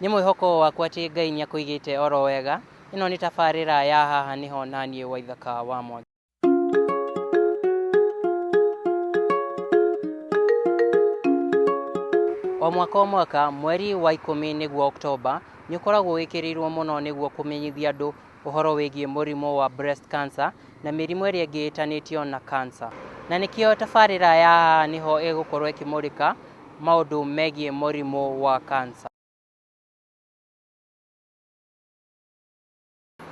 nĩ mwĩhoko wakwa atĩ ngai nĩ akũigĩte oro wega ĩno nĩ tabarĩra ya haha nĩho na niĩ waithaka wa mwangi o mwaka o mwaka mweri wa ikũmi nĩguo oktoba nĩ ũkoragwo wĩkĩrĩirwo mũno nĩguo kũmenyithia andũ ũhoro wĩgiĩ mũrimũ wa breast cancer na mĩrimũ ĩrĩa ĩngĩ ĩtanĩtio na cancer. Na nĩkĩo tabarĩra ya Haha Nĩho ĩgũkorwo ĩkĩmũrĩka maũndũ megiĩ mũrimũ wa cancer.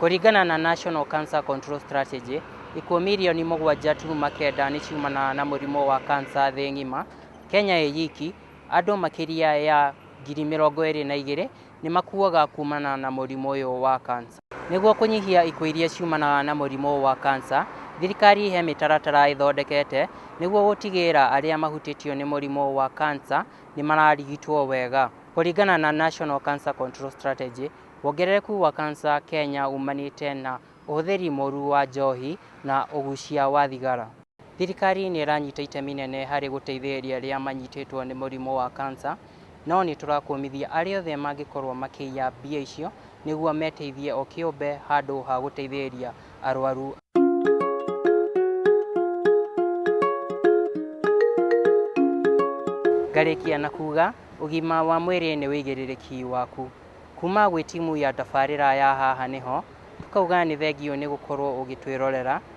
Kũringana na National Cancer Control Strategy, ikuũ mirioni mũgwanja turuma kenda nĩ ciumanaga na mũrimũ wa cancer thĩ ng'ima. Kenya ĩ yiki, andũ makĩria ya ngiri mĩrongo ĩrĩ na igĩrĩ nĩ makuaga kuumana na mũrimũ ũyũ wa kansa. Nĩguo kũnyihia ikuũ iria ciumanaga na mũrimũ ũyũ wa kansa, thirikari he mĩtaratara ĩthondekete nĩguo gũtigĩrĩra arĩa mahutĩtio nĩ mũrimũ ũyũ wa kansa nĩ mararigitwo wega. Kũringana na National Cancer Control Strategy, wongerereku wa kansa Kenya umanĩte na ũhũthĩri mũru wa njohi na ũgucia wa thigara. Thirikari nĩ ĩranyita itemi inene harĩ gũteithĩrĩria arĩa manyitĩtwo nĩ mũrimũ wa kansa, no nĩ tũrakũmithia arĩa othe mangĩkorũo makĩiya mbia icio nĩguo meteithie o kĩũmbe handũ ha gũteithĩrĩria arwaru. Ngarĩkia na kuuga, ũgima wa mwĩrĩ nĩ wĩigĩrĩrĩki waku. Kuuma gwĩ timu ya tabarĩra ya Haha Nĩho, tũkauga nĩ thengiũ nĩ gũkorũo ũgĩtwĩrorera.